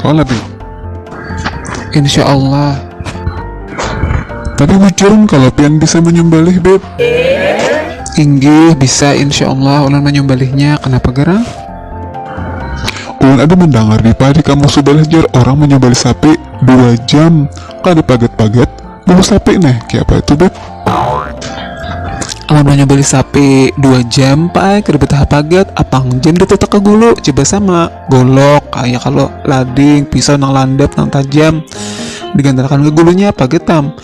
Kala bin Insya Allah Tapi bujuran kalau pian bisa menyembalih Beb Inggih bisa insya Allah ulun menyembalihnya kenapa garang? Ulun ada mendengar di padi kamu subalah jar orang menyembalih sapi dua jam kada paget-paget Bawa sapi nih, kayak apa itu beb? Amun beli sapi dua jam pak, kada betah pagat, apang jam ditetak ke gulu, coba sama golok, kayak kalau lading, pisau nang landap nang tajam digantarakan ke gulunya apa getam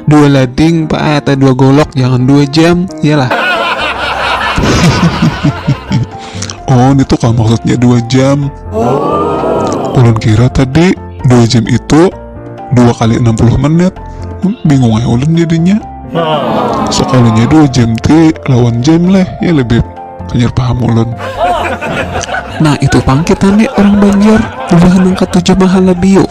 dua lading pak eh, atau dua golok jangan dua jam iyalah oh ini tuh kah maksudnya dua jam oh. ulun kira tadi dua jam itu dua kali enam puluh menit hmm, bingung ya ulun jadinya sekalinya dua jam ti lawan jam leh ya lebih hanyar paham ulun nah itu pang kita nih orang Banjar udah nangkat tujuh mahal lebih yuk